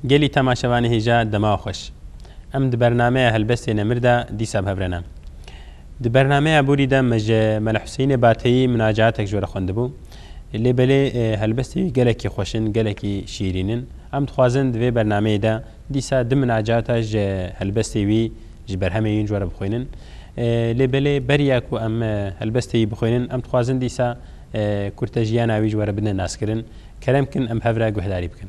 Gelî temaşevanê hêja dema xweş. Em di bernameya Helbestê Nemir de dîsa bi hev re ne. Di bernameya Borî de me ji Mele Huseyînê Bateyî minacaetek ji we re xwendibû. Lê belê helbestê wî gelekî xweş in, gelekî şîrîn in. Em dixwazin di vê bernameyê de dîsa di minacata ji helbestê wî ji berhemê wîn cware bixwînin. Lê belê beriya ku em helbestê wî bixwînin, em dixwazin dîsa kurte jiyana wî cware bidine naskirin. Kerem bikin em hev re guhdarî bikin.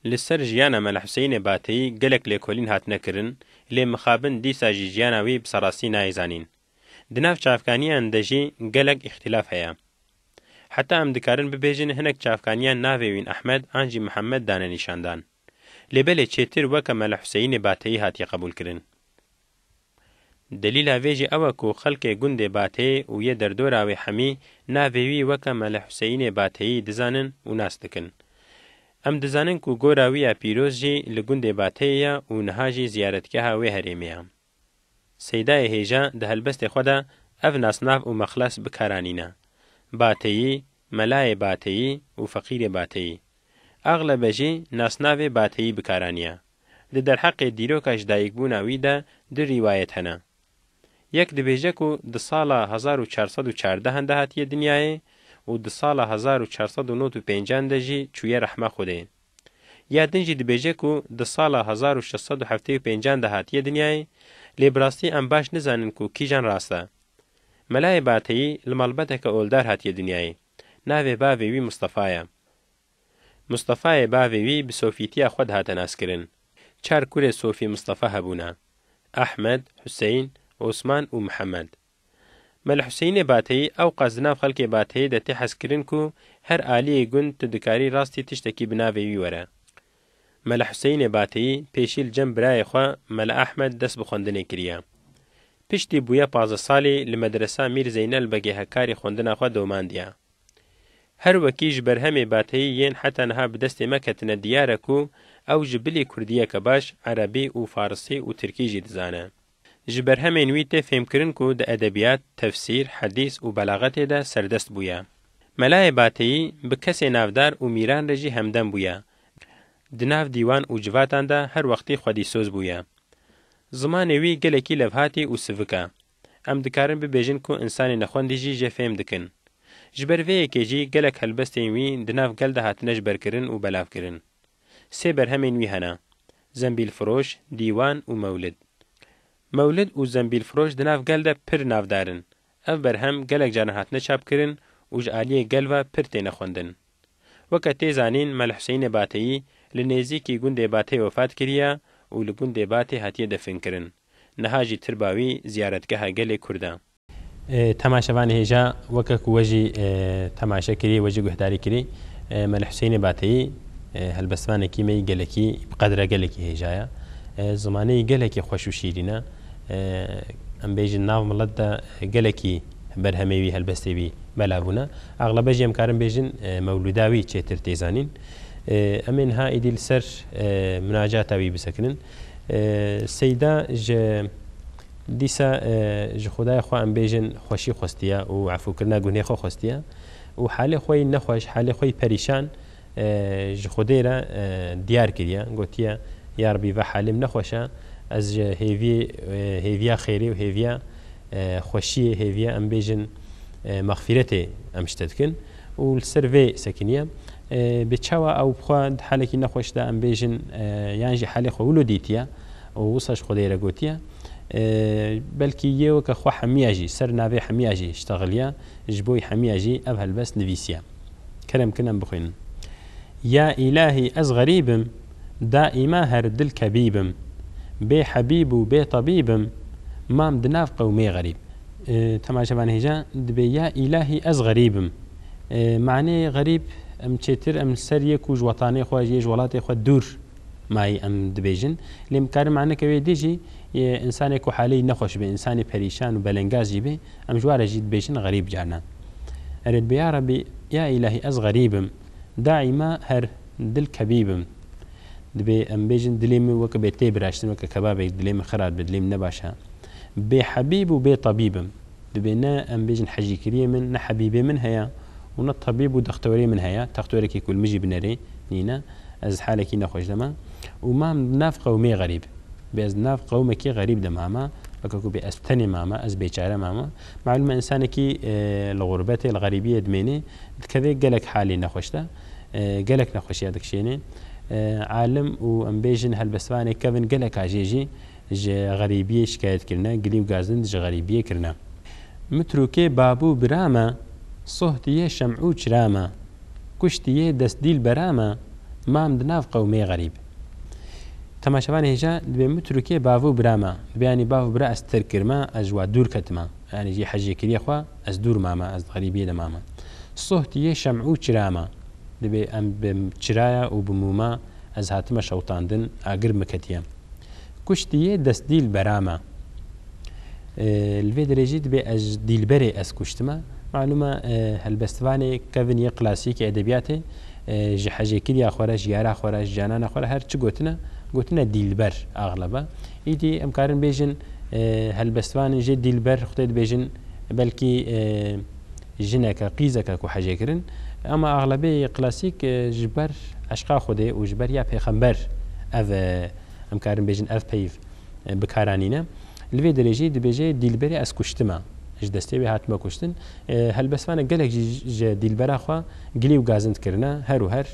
Li ser jiyana Mela Huseyînê Bateyî gelek lêkolîn hatine kirin, lê mixabin dîsa jî jiyana wî bi serrastî nayê zanîn. Di nav çavkaniyan de jî gelek îxtîlaf heye. Heta em dikarin bibêjin hinek çavkaniyan navê Wîn Ehmed an jî Mihemed dane nîşandan. Lê belê çêtir weke Mele Huseyînê Bateyî hatiye qebûlkirin. Delîla vê jî ew e ku xelkê gundê Batê û yê derdora wê hemî navê wî weke Mele Huseyînê Bateyî dizanin û nas dikin. Em dizanin ku gora wî ya pîroz jî li gundê Bateyê ye û niha jî ziyaretgeha wê herêmê ye. Seydayê hêja di helbestê xwe de ev nasnav û mexles bi kar anîne, Bateyî, Melayê Bateyî û Feqîrê Bateyî. Axlebe jî nasnavê Bateyî bi kar aniye. Di derheqê dîroka ji dayikbûna wî de du rîwayet hene. Yek dibêje ku di sala hezar û çar sed û çardehan de hatiye dinyayê û di sala hezar û çar sed û nod û pêncan de jî çûye rehma Xwedê. Ya din jî dibêje ku di sala hezar û şeş sed û heftê û pênc an de hatiye dinyayê, lê bi rastî em baş nizanin ku kîjan rast e. Melayê Bateyî li malbeteke oldar hatiye dinyayê. Navê bavê wî Mistefa ye. Mistefayê bavê wî bi sofîtiya xwe dihate naskirin. Çar kurê Sofî Mistefa hebûne, Ehmed, Huseyn, Osman û Mihemed. Mele Huseyînê Bateyî ewqas di nav xelkê Bateyê de tê hezkirin ku her aliyê gund tu dikarî rastî tiştekî bi navê wî were. Mele Huseyînê Bateyî pêşî li cem birayê xwe Mele Ehmed dest bi xwendinê kiriye. Piştî bûye pazdeh salî li Medresa Mîr Zeynel Begê Hekkarî xwendina xwe domandiye. Her wekî ji berhemê Bateyî yên heta niha bi destê me ketine diyar e ku ew ji bilî kurdiyeke baş, erebî û farisî û tirkî jî dizane. Ji berhemên wî tê fêmkirin ku di edebiyat, tefsîr, hedîs û belaxetê de serdest bûye. Melayê Bateyî bi kesê navdar û mîran re jî hemdem bûye. Di nav dîwan û civatan de her wextî xwedîsoz bûye. Zimanê wî gelekî levhatî û sivik e. Em dikarin bibêjin ku însanê nexwendî jî jê fêm dikin. Ji ber vê yekê jî gelek helbestên wî di nav gel de hatine ji ber kirin û belavkirin. Sê berhemên wî hene, Zembîlfiroş, Dîwan û Mewlid. Mewlid û Zembîlfiroş di nav gel de pir navdar in. Ev berhem gelek caran hatine çapkirin û ji aliyê gel ve pir têne xwendin. Weke tê zanîn Mele Huseyînê Bateyî li nêzîkî gundê Batey wefat kiriye û li gundê Batê hatiye definkirin. Niha jî tirba wî ziyaretgeha gelê Kurd e. Temaşevanê hêja weke ku we jî temaşe kirî, we jî guhdarî kirî me li Huseyinê Bateyî helbestvanekî me yî gelekî bi qedre gelekî hêja ye. Zimanê yî gelekî xweş û şîrîn e. Em bêjin nav milet de gelekî berhemê wî, helbestê wî mela bûne. Exlebe jî em karin bêjin mewlûda wî çêtir tê zanîn. Em ê niha êdî li ser minacata wî bisekinin. Seyda ji Dîsa ji Xwedaya xwe em bêjin xweşî xwestiye û efûkirina gunhê xwe xwestiye û halê xwe yî nexweş, halê xwe yî perîşan ji Xwedê re diyar kiriye, gotiye, Ya Rebî va halîm nexweş e, ez ji hêviyê, hêviya xêrê û hêviya xweşiyê, hêviya em bêjin mexfîretê em ji te dikin û li ser vê sekiniye. Bê çawa ew bi xwe di halekî nexweş de em bêjin yan jî halê xwe wilo dîtiye, Û wisa ji Xwedê re gotiye, belkî yê weke xwe hemiya jî, ser navê hemiya jî ştexiliye, ji bo hemiya jî ev helbest nivîsiye. Kerem kin em bixwînin. Ya îlahî ez xerîb im, daîma her dil kebîb im, bê hebîb û bê tebîb im, mam di nav qewmê xerîb. Tema ji van hêja dibê ya îlahî ez xerîb im. Manê xerîb em çêtir em li ser yê ku ji wetanê xwe, ji yê ji welatê xwe dûr. Mayî em dibêjin. Lê em dikarin maneke wê dî jî yê însanê ku haleyî nexweş be, însanê perîşan û belengaz jî bê, em ji wa re jî dibêjin xerîb carnan. Erê dibe ya Rebî, ya îlahî ez xerîb im, daîma her dil kebîb im. Dibê em bêjin dilê min weke bê tê biraştin, weke kebabek dilê min xerat be, dilê min ne baş e. Bê hebîb û bê tabîb im. Dibê ne em bêjin hecîkiriyê min ne hebîbê min heye û ne tebîb û dextorê min heye, textorekî ku li min jî bi nerê nîne, ez halekî nexweş de me û mam di nav qewmê xerîb. Bê ez di nav qewmekî xerîb de mame, weke ku bê ez tenê mame, ez bêçare mame. Malûm e însanekî li xurbetê, li xerîbiyê dimênê, dikeve gelek halê nexweş de, gelek nexweşiya dikişênê. Alim û em bêjin helbestvanê kevin geleka jê jî, ji xerîbiyê şikayet kirine, gilî û gazind ji xerîbiyê kirine. Mi trûkê babû bira me, sohtiyê şem'û çira me, kuştiyê dest dîlbera me, mam di nav qewmê xerîb. Temaşevanê hêja dibê mi trûkê bavû bira me, dibê yanî bavû bira ez tirk kirime, ez ji wa dûr ketime, yanî jî hejê kiriyê xwe ez dûr mame, ez di xerîbiyê de mame. Sohtiyê şem'û çira me, dibê em bi çiraya û bi mûma ez hatime şewtandin, agir mi ketiye. Kuştî yê dest dîlbera me. Li vê derê jî dibê ez dîlberê ez kuştime. Malûme helbestvanê kevin yê klasîkê edebiyatê ji hecêkiriya xwe re ji yara xwe re ji canana xwe re her çi gotine gotine dîlber axlebe. Îdî em karin bêjin helbestvanên jê dîlber xwedê dibêjin belkî jineke, qîzeke ku hecê kirin ama exlebê klasîk ji ber eşqa Xwedê û ji ber ya pêxember ev em karin bêjin ev peyv bi kar anîne. Li vê derê jî dibêje dîlberê ez kuştime, ji destê wê hatime kuştin. Helbestvanek gelek jî ji dîlbera xwe gilî û gazind kirine, her û her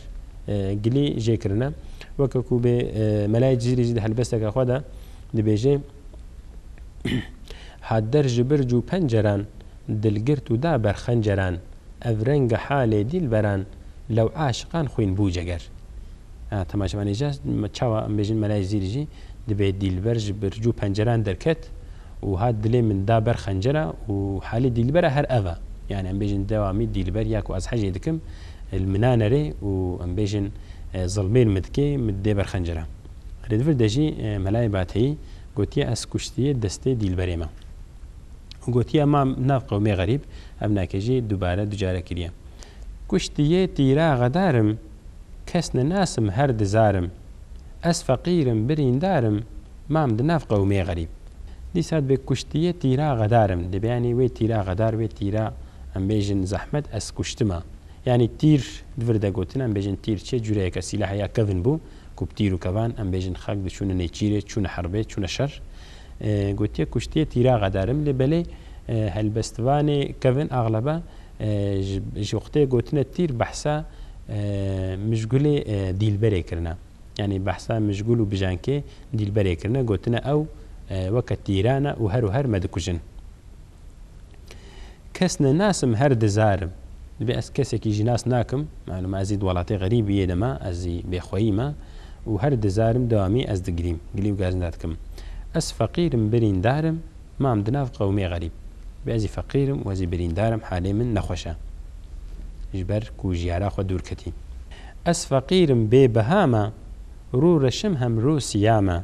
gilî jê kirine. Weke ku bê Melayê Cizîrî jî di helbesteke xwe de dibêje, Hat der ji bir cû penceran, Dil girt û da ber xenceran. Ev renga halê dîlberan. Lew aşiqan xwîn bû ceger. A temaşevanê jî hest çawa em bêjin Melayê Zîrî jî dibê dîlber ji birc û penceran derket û hat dilê min da ber xencera û halê dîlbera her ev e. Yanî em bêjin dewamî dîlber ya ku ez hecê dikim li min a nerê û em bêjin zilmên min dikê min didê ber xencera. Rêdivir de jî Melayê Bateyî gotiye ez kuştiye destê dîlberê me. û gotiye ma nav qewmê xerîb ev nake jî dubare du care kiriye. Kuştiye tîra xedar im, kes ninas im her di zar im, ez feqîr im birîndar im, mam di nav qewmê xerîb. Dîsa dibe kuştiye tîra xedar im, dibe yanî wê tîra xedar wê tîra em bêjin zehmet ez kuştima. Yanî tîr di vir de gotin em bêjin tîr çi cureyeke sîlahe ya kevin bû ku bi tîr û kevan em bêjin xelk diçûne nêçîrê, çûne herbê, çûne şer. Gotiye kuştiye tîra xedarim lê belê helbestvanê Kevin axlebe ji wextê gotine tîr behsa Mijgulê Dîlberê kirine. Yanî behsa Mijgul û Bijankê Dîlberê kirine gotine ew weke tîran e û her û her me dikujin. Kes ne nasim her dizar im. Divê ez kesekî jî nas nakim. Malum ez jî di welatê xerîbî yê de me, ez jî bêxweyî me û her dizar im dewamî ez digirîm, gilî û gazinda dikim. Ez feqîr im birîndar im, mam di nav qewmê xerîb. Divê ez jî feqîr im û ez jî birîndar im halê min nexweş e. Ji ber ku jiyara xwe dûr ketî. Ez feqîr im bêbiha me, rû reşim hem rû siya me.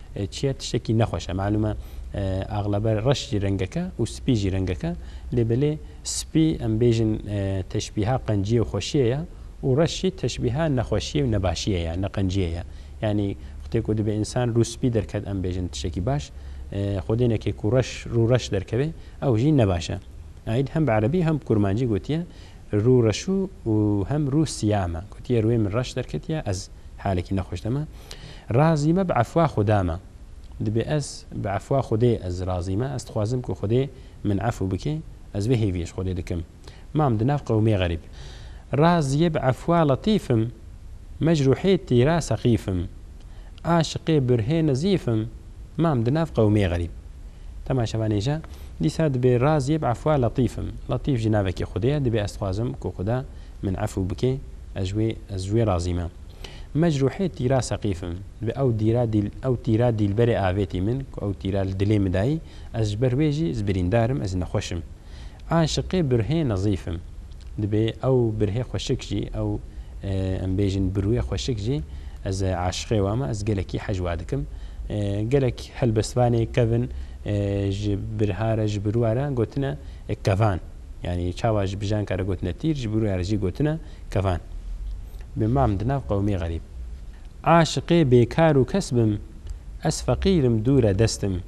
Çiye tiştekî nexweş e. Malûm e axlebe reş jî rengek e û spî jî rengek e. Lê belê spî em bêjin teşbîha qenciyê û xweşiyê ye û reş jî teşbîha nexweşiyê û nebaşiyê ye, neqenciyê ye. Yanî wextê ku dibe însan rû spî derket em bêjin tiştekî baş. Xwedênekê ku reş rû reş derkeve ew jî nebaş e. Aîd hem bi erebî hem bi kurmancî gotiye rû reşû û hem rû siyam e. Gotiye rûyê min reş derketiye ez. halekî nexweş de me. Razî me bi efwa Xuda me. Dibê ez bi efwa Xwedê ez razî me. Ez dixwazim ku Xwedê min efû bike. Ez vê hêviyê ji Xwedê dikim. Mam di nav qewimê xerîb. Razî bi efwa Letîf im. Mecrûhê tîra seqîf im. Aşiqê birhê nezîf im. Mam di nav qewimê xerîb. Dema şeva nêja, dîsa dibê razî bi efwa Letîf im. Letîf jî navekê Xwedê ye. Dibê ez dixwazim ku Xuda. min efû bike, ez wê ez ji wê razî me. Me ji ruhê tîra seqîf im. Bi ew dîra dîl ew tîra dîlberê avêtî min ku ew tîra li dilê min dayî, ez ji ber wê jî ez birîndar im, ez nexweş im. Aşiqê birhê nezîf im. Dibê ew birhê xweşik jî, ew em bêjin birwê xweşik jî ez aşiqê wan im, ez gelekî hej wa dikim. Gelek helbestvanê kevin ji birha re ji birwa re gotine kevan. Yanî çawa ji bijanka re gotine tîr, ji bûrûya re jî gotine kevan. Bi mam di nav qewimê xerîb. Aşiqê bêkar û kes bim, ez feqîr im dûr e dest im.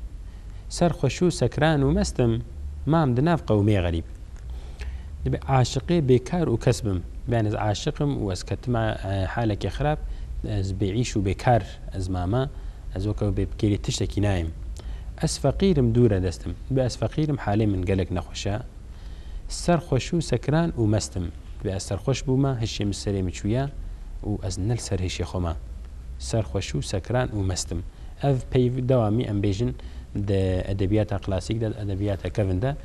Serxweş û sekran û mest im, mam di nav qewimê xerîb. Dibe aşiqê bêkar û kes bim. Bêyane ez aşiq im û ez ketim a halekê xerab, ez bêîş û bêkar. Ez mame, ez weke wê bêpikêrî tiştekî nayêm. Ez feqîr im dûre dest im. Dibê ez feqîr im halê min gelek nexweş e. Ser xweş û sekran û mest im. Dibê ez serxweş bûme hişê min serê min çûye û ez ne li ser hêşê xwe me. Ser xweş û sekran û mest im. Ev peyv dewamî em bêjin di edebiyata klasîk de, di edebiyata kevn de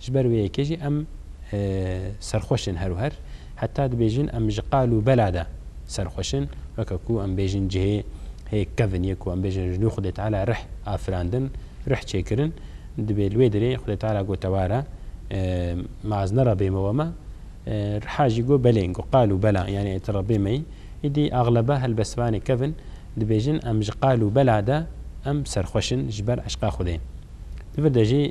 Ji ber vê yekê jî em serxweş in her û her. Heta dibêjin em ji qal û bela de serxweş in. Weke ku em bêjin cihê hê kevn ye ku em bêjin ji nû Xwedê Teala rih afirandin, rih çêkirin. Dibê li wê derê Xwedê Teala got tewar e. Me az nera bê me we me. Riha jî got belê, got qal û bela yanî tu re bê me yî. Îdî axlebe helbestvanê kevn dibêjin em ji qal û bela de em serxweş in ji ber eşqa Xwedê. Li vir de jî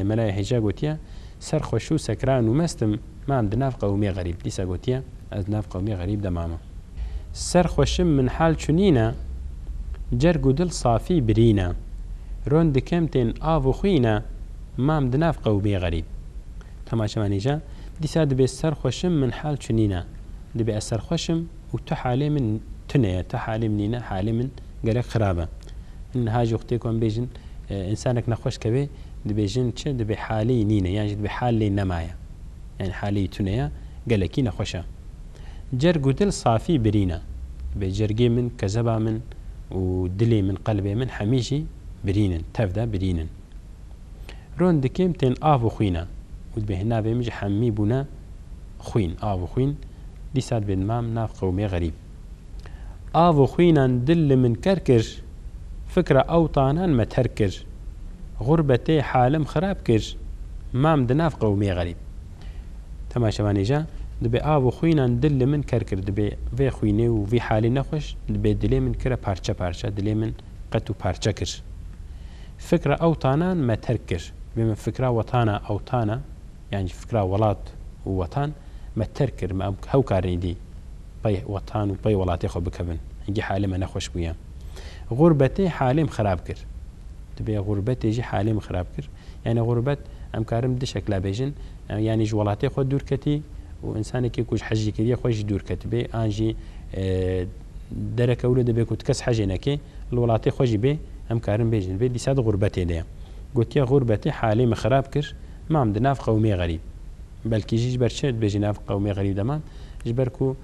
Melaya Hêja gotiye, Ser xweş û sekran û mest im, mam di nav qewimê xerîb. Dîsa gotiye, Ez di nav qewimê xerîb de mama. Ser xweş im min hal çunîn e, cerg û dil safî birîn e. Ron dikim tên av û xwîn e, mam di nav qewimê xerîb. Temaşevanê Hêja, Dîsa dibê ser xweş im min hal çunîn e. Dibê ez ser xweş im. û tu halê min tune ye, tu halê min nîne, halê min gelek xirab e. Min niha jî wextê ku em bêjin însanek nexweş keve dibêjin çi dibê halê nîne yan jî dibê hal lê nemaye. Yanî halê tune ye, gelekî nexweş e. Cerg û dil safî birîn e. Dibê cergê min, kezeba min û dilê min, qelbê min hemî jî birîn in, tev de birîn in. Ron dikêm tên av û xwîna. Û dibê hêna vê min jî hemî bûne xwîn, av û xwîn, dîsa dibê dimam nav qewmê xerîb. Av û xwînan dil li min ker kir, fikra ew tanan me terk kir. Xurbetê halim xirab kir, mam di nav qewmê xerîb. Dema şevanê ja, dibê av û xwînan dil li min ker kir, dibê vê xwînê û vî halê nexweş, dibê dilê min kire parçe parçe, dilê min, qet û parçe kir. Fikra ew tanan me terk kir. Vê min fikra wetana ew tana, yanî fikra welat û wetan me terk kir. Me hew karin îdî pey wetan û pey welatê xwe bikevin. Hingî halê me nexweş bûye. Xurbetê halê min xerab kir. Dibê xurbetê jî halê min xerab kir. Yanî xurbet em karin bi du şekla bêjin. Yanî ji welatê xwe dûr ketî û însanekî ku ji hicrkiriyê xwe jî dûr ketibê an jî Dereke wilo dibe ku ti kes hejê neke, li welatê xwe jî bê, em karin bêjin li bê, dîsa di xûrbetê de ye. Gotiye xûrbetê halê min xirab kir, mam di nav qewmê xerîb. Belkî jî ji ber çi dibêjî nav qewmê xerîb de mam? Ji ber ku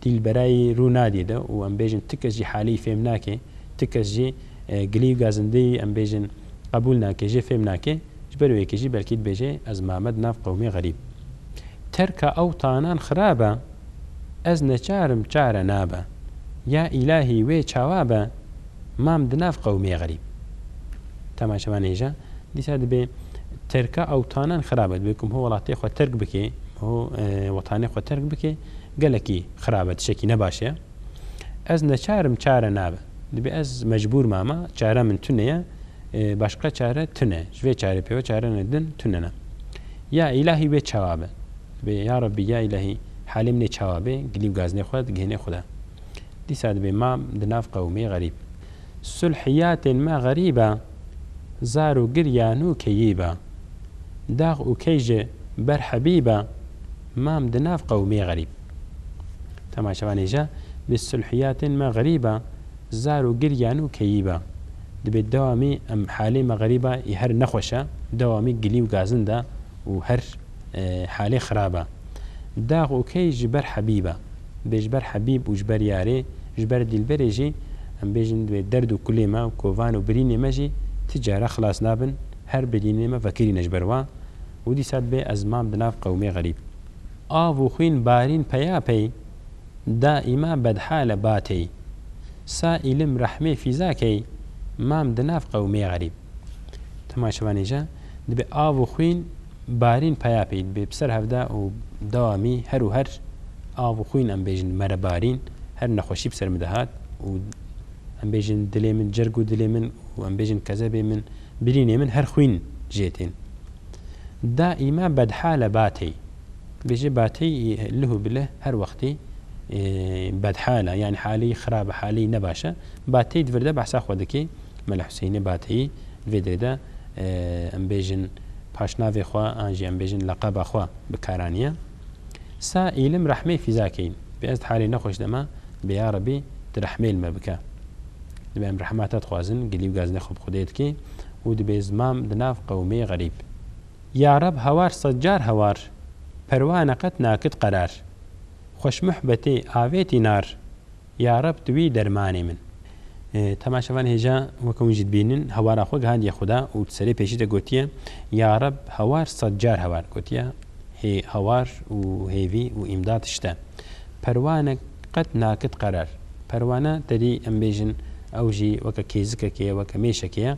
dîlberayî rû nadî di û em bêjin ti kes jî halê wî fêm nake, ti kes jî gilî û gazindeyî em bêjin qebûl nake, jê fêm nake. Ji ber wê yekê jî belkî dibêje ez mame di nav qewmê xerîb. Terka ew tanan xirab e, ez neçar im çare nabe. Ya îlahî wê çawa be, mam di nav qewmê xerîb. Dema çavan hêja, dîsa dibê terka ew tanan xirab e. Dibê ku miho welatê xwe terk bike, miho wetanê xwe terk bike, gelekî xirab e, tiştekî ne baş e. Ez neçar im çare nabe. Dibê ez mecbûr mama, çare min tune ye, başqa çare tune. Ji vê çarê pêwa çare ne din tune ne. Ya îlahî wê çawa be. Dibê ya Rabbî ya îlahî halê min ê çawa bê, gilî û gaznê xwe digihînê xwe de. Dîsa dibê ma di nav qewimê xerîb. Sulh yatên me xerîb e, zar û giryan û keyîb e. Dax û key ji ber hebîb e. Mam di nav qewmê xerîb. Dema çavanê ja bi sulhiyatên me xerîb a, zar û giryan û keyîb a. Dibê dewamî em halê me xerîb a yê her nexweş a, dewamî gilî û gazind a û her halê xirab a. Dax û key ji ber hebîb a. Dibê ji ber hebîb û ji ber yarê, ji ber dîlberê jî em bêjin dibê derd û kulê me û kovan û birînê me jî ti care xilas nabin, her birînê me vekirîne ji ber wan. Û dîsa dibe ez mam di nav qewmê xerîb. Av û xwîn barîn peya pey, daîma bedhale ba tey. Sa îlim rehmê fîza key, mam di nav qewmê xerîb. Dema şevan hêja, dibe av û xwîn barîn peya pey. Dibe bi ser hevda û dewamî her û her av û xwîn em bêjin mere barîn, her nexweşî bi ser min dihat û em bêjin dilê min, cerg û dilê min û em bêjin kezebê min, Birînê min her xwîn jê tên. Daîma bedhal e batey. Bêje batey lih û bilih her wextê bedhal e yanî haleyî xirab e haleyî ne baş e. Batey di vir de behsa xwe dike. Mele Huseyînê Bateyî di vê dirê de em bêjin paşnavê xwe an jî em bêjin leqeba xwe bi kar aniye. Sa îlim rehmê fîza keyin. Bi ez halê nexweş de ma bi ya Rebî tu rehmêl me bike. Dibe em rehma te dixwazin gilî û gazinê xwe bi Xwedê dikê û dibê zimam di nav qewmê xerîb. Ya Reb hawar sed car hawar perwa neqet nakit qerar. Xweş muhbetê avêtî nar Ya Reb tu î dermanê min. Tahma şevan hêja weke hûn jî dibînin hawara xwe gihandiye Xuda û di serê pêşî de gotiye, Ya Reb hawar sed car hawar gotiye, hê hawar û hêvî û îmdad tişt e. Perwane qet nakit qerer. Perwane tedî em bêjin ew jî weke kêzikekê ye, weke mêşekê ye.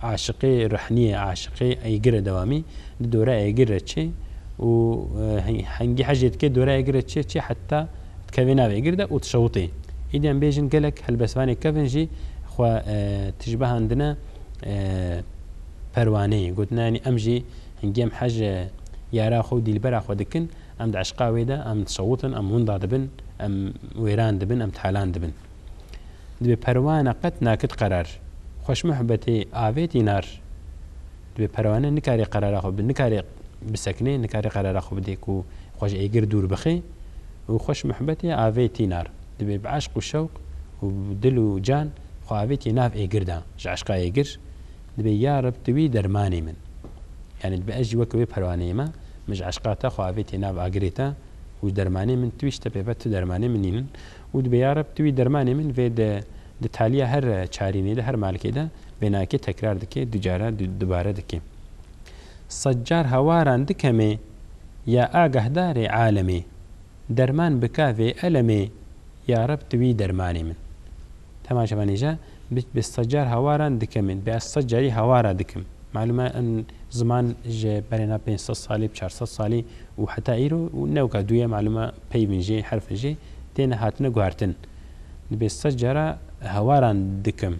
Aşiqê rehniyê, aşiqê eygir e dewamî di dore eygir re çê û hingî hecê dike dore eygir re çê çê heta dikevê navê gir de û dişewitê. Îdî em bêjin gelek helbestvanê kevin jî xwe tişbihandine perwaneyê. Gotine yanî em jî hingî em hez ji yara xwe û dîlbera xwe dikin, em di eşqa wê de em dişewitin, em winda dibin, em wêran dibin, em talan dibin. Dibê perwane qet nakit qerar. Xweşmuhbetê avêt înar. Dibê perwane nikarê qerara xwe bi nikarê. bisekine nikare qerara xwe bide ku xwe ji êgir dûr bixe û xwe ji mihbetê avê tînar. Divê bi eşq û şewq û bi dil û can xwe avêtiye nav êgir de. Ji eşqa êgir dibê ya Reb tu wî dermanê min. Yanî dibe ez jî weke wê perwaneyê me, min ji eşqa te xwe avêtiye nav agirê te û ji dermanê min tu wî ji te pê ve tu dermanê min î. Û dibê ya Reb tu wî dermanê min vê di di taliya her çarînê de her malkê de vê nakê tekrar dike, du cara dubare dike. Sed car hawaran dikemê. Ya agahdarê alemê. Derman bika vê elemê. Ya Reb tu wî dermanê min. Dema ji van hêja bi bi sed car hawaran dikemê. Bi ez sed carî hawara dikim. Malum e in ziman ji berêna pênc sed salî bi çar sed salî û heta îro û ne weka dûye malum e peyvên jê herfên jê têne hatine guhertin. Dibê sed cara hawaran dikim.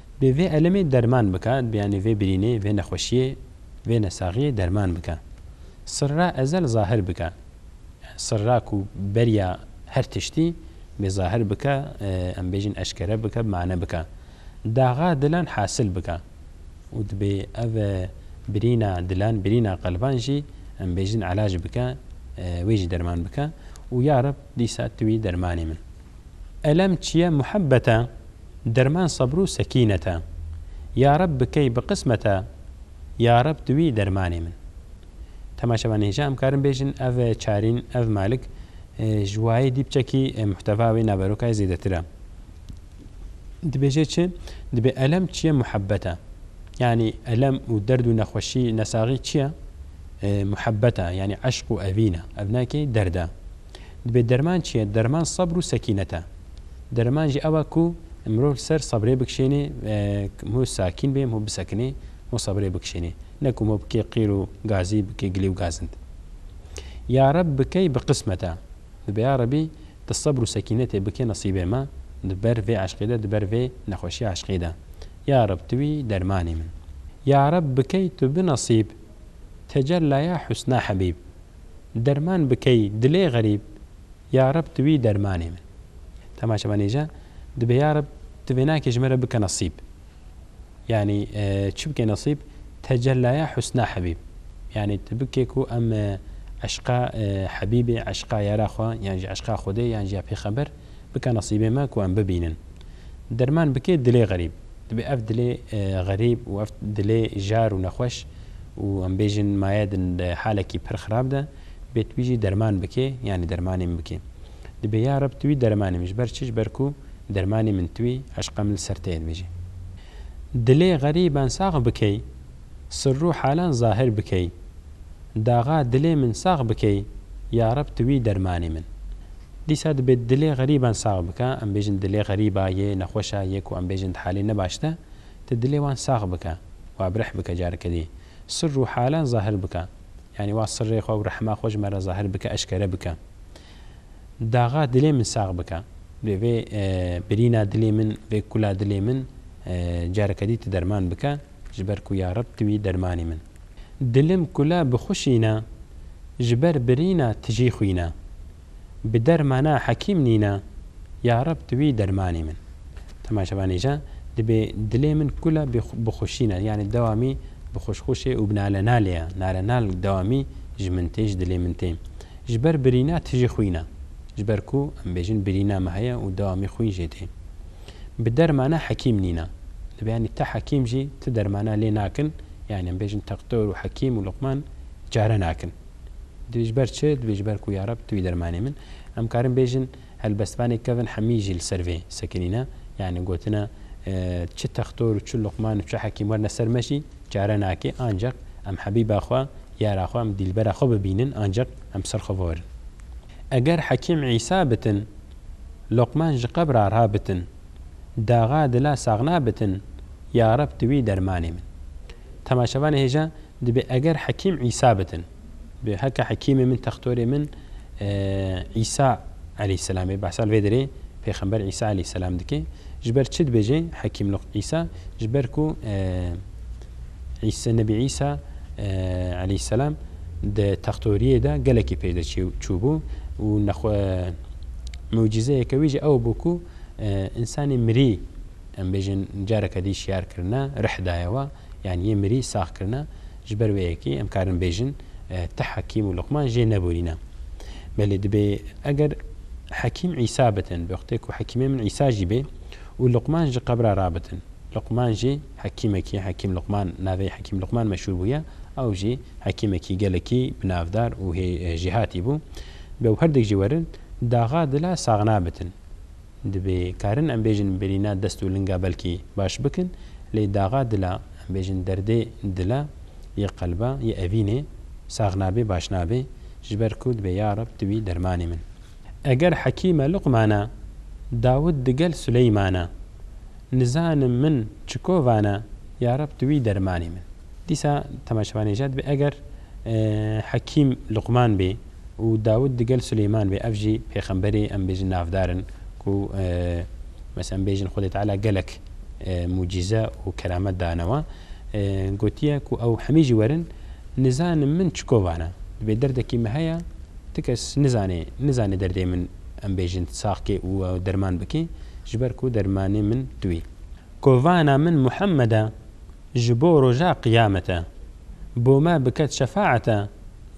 Bê vê elemê derman bike, bê yanî vê birînê, vê nexweşiyê, vê nesaxiyê derman bike. Sirra ezel zahir bike. Yan sirra ku beriya her tiştî bê zahir bike, em bêjin eşkere bike, bi mane bike. Daxa dilan hasil bike. Û dibê ev birîna dilan, birîna qelban jî em bêjin elac bike, wê jî derman bike. Û ya Reb dîsa tu wî dermanê min. Elem çiye muhebbet e. Derman sebrû sekînet e. Ya reb bikey bi qismet e. Ya reb tu wî dermanê min. Tema şeva nêja em karin bêjin ev çarîn ev malik ji wayê dîpçekî muhtewa wê naverokayê zêdetir e. Dibêje çi? Dibê elem çiye muhebbet e. Yanî elem û derd û nexweşî nesaxî çiye? Muhebbet e yanî eşq û evîn e. Ev ne ki derd e. Dibê derman çi ye? Derman sebr û sekînet e. Dereman jî ew e ku mirov li ser sebrê bikişênê, mirov sakîn bê, mirov bisekinê, mirov sebrê bikişênê. Ne ku mirov bike qîr û gazî, bike gilî û gazind. Ya Reb bikey bi qismet e. Dibe ya Rebî tu sebr û sekînetê bike nesîbê me di ber vê eşqê de, di ber vê nexweşiya eşqê de. Ya Reb tu wî dermanê min. Ya Reb bikey tu bi nesîb. Tecellaya husna hebîb. Derman bikey dilê xerîb ya reb tu wî dermanê min. Dema çavan nêja dibê ya reb tu vênakê ji min re bike nesîb. Yanî çi bike nesîb? Tecellaya husna hebîb. Yanî tu bike ku em eşqa hebîbê, eşqa yara xwe yan jî eşqa xwedê yan jî ya pêxember Bike nesîbê me ku em bibînin. Derman bike dilê xerîb. Divê ev dilê xerîb û ev dilê jar û nexweş û em bêjin maye di halekî pir xirab de bê tu wî jî derman bike yanî dermanê min bike. Dibê ya Reb tu wî dermanê min ji ber çi ji ber ku dermanê min tu î eşqem li ser te ye dibêje. Dilê xerîb an sax bikey. Sirrû halan zahir bikey. Daxa dilê min sax bikey yareb tu wî dermanê min. Dîsa dibe dilê xerîban sax bike em bêjin dilê xerîba yê nexweşa yê ku em bêjin di halê nebaş de tu dilê wan sax bike wa bi rih bike careke dî sirrû halan zahir bike yanî wa sirrê xwe û rehma xwe ji me re zahir bike eşkere bike Daxa dilê min sax bike. Divê vê birîna dilê min vê kula dilê min careke dî tu derman bike. Ji ber ku ya Reb tu î dermanê min. Dilim kula bixuşîna, ji ber birîna tijî xwîna. Bi dermana hekîm nîna, ya Reb tu î dermanê min. Dema ji van êja dibê dilê min kula bixuşîna yanî dewamî bixuşxuşê û binalenalê ya, nalenal dewamî ji min tê, ji dilê min tê. Ji ber birîna tijî xwîna. Ji ber ku em bêjin birîna me heye û dewamî xwîn jê tê. Bi dermana hekîm nîne. Li vê yanî ti hekîm jî ti dermana lê nakin. Yanî em bêjin tektor û hekîm û luqman çare nakin. Divê ji ber çi? Divê ji ber ku yareb tu î dermanê min. Em karin bêjin helbestvanê Kevin Hemî jî li ser vê sekinîne. Yanî gotine çi tektor û çi luqman û çi hekîm werne ser me jî çare nake. Ancaq em hebîba xwe, yara xwe, em dîlbera xwe bibînin ancaq em ser xwe verin. Eger hekîm Îsa bitin. Luqman ji qebra ra bitin. Daxa dila saxna bitin, ya Reb tu wî dermanê min. Temaşevanê hêja dibê eger Hekîm Îsa bitin. Bi heke Hekîmê min textorê min Îsa eleyhîsselam ê. Behsa li vê derê pêxember Îsa eleyhîsselam dike. Ji ber çi dibêje Hekîm Luq Îsa? Ji ber ku Îsa Nebî Îsa eleyhisselam di textoriyê de gelekî peyde çûbû û nexwe mucîzeyeke wî jî ew bû ku însanê mirî em bêjin careke dî şiyar kirine rih daye we yan yê mirî sax kirine ji ber wê yekê em karin bêjin ti hekîm û luqman jê neborîne belê dibê eger hekîm Îsa bitin bi wextê ku hekîmê min Îsa jî bê û luqman ji qebra rabitin luqman jî Hekîmekî Hekîm Luqman navê Hekîm Luqman meşhûr bûye. Ew jî hekîmekî gelekî binavdar û jêhatî bû. Bi ew herdik jî werin daxa dila saxna bitin. Dibê karin em bêjin birîna dest û linga belkî baş bikin lê daxa dila, em bêjin derdê dila, yê qelba, yê evînê saxna bê baş nabê. Ji ber ku dibê ya Reb tu bî dermanê min. Eger Hekîme Luqmana, Dawud digel Suleymana. Nizanim min çiko vana, ya Reb tu wî dermanê min. Dîsa temaşevan ê jad bê eger Hekîm Luqman bê û Dawûd digel Suleyman bê ev jî pêxemberê em bêjin navdar in ku mes em bêjin Xwedê Teala gelek mucîze û keramet danewe gotiye ku ew hemî jî werin nizanim min çiko vana dibê derdekî min heye ti kes nizanê nizanê derdê min em bêjin tu sax kê û ew derman bike ji ber ku dermanê min tu î. Kovana min Muhammed e ji bo roja qiyamet e bo me biket şefaet e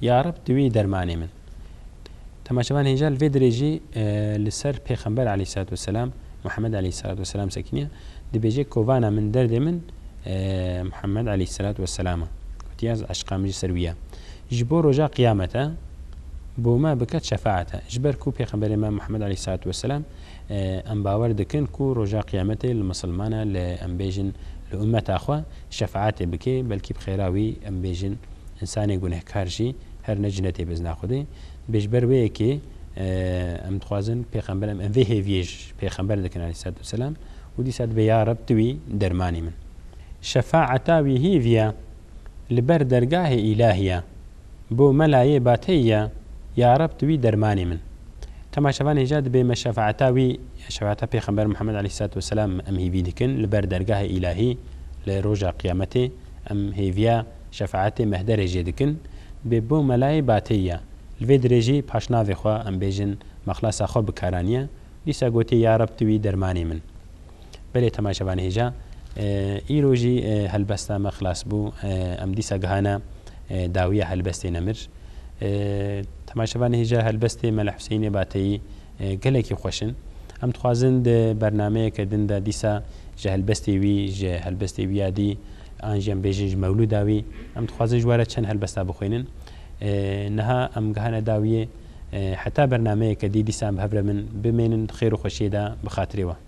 ya Reb tu î dermanê min. Temaşevan hêja li vê dirêjî li ser pêxember aleyhîssalat weselam Muhammed aleyhîssalat weselam sekiniya dibêje kovana min derdê min Muhammed aleyhîssalat weselam e. Kutiyaz eşqa min ji ser wî ye. Ji bo roja qiyamete bo me bike şefaete. Ji ber ku pêxemberê me Muhammed aleyh selatü weselam em bawer dikin ku roja qiyametê li misilman e li em bêjin li ummeta xwe şefaetê bike belkî bi xêra wî em bêjin însanê gunehkar jî her ne cinetê bizna Xwedê dibê ji ber wê yekê em dixwazin pêxember em em vê hêviyê ji pêxember dikin aleyh selatü weselam û dîsa dibê ya Reb tu wî dermanê min şefaeta wî hêviya li ber dergahê îlahî ye bo melayê bateyî ye ya reb tu wî dermanê min Dema şevan hêja dibe me şefaeta wî ya şefaeta pêxember Muhammed aleyhîsselatu weselam em hêvî dikin li ber dergahê îlahî li roja qiyametê em hêviya şefaetê mehderê jê dikin dibe bo melayê bateyî ye li vê dirê jî paş navê xwe em bêjin mexlesa xwe bikaranîye dîsa gotê ya reb tu wî dermanê min. Belê Tema Şevan Hêja Îro jî helbesta me xilas bû em dîsa gihana dawiya helbestê nemir. Tema Şevan Hêja helbestê Mele Huseyînê Bateyî gelekî xweş in. Em dixwazin di bernameyeke din de dîsa ji helbestê wî, ji helbestê wî ya dî an jî em bêjin ji mewlûda wî em dixwazin ji we re çend helbesta bixwînin. Niha em gihane dawiyê heta bernameyeke dî dîsa em bi hev re bin bimênin di xêr û xweşiyê de bi xatirê we.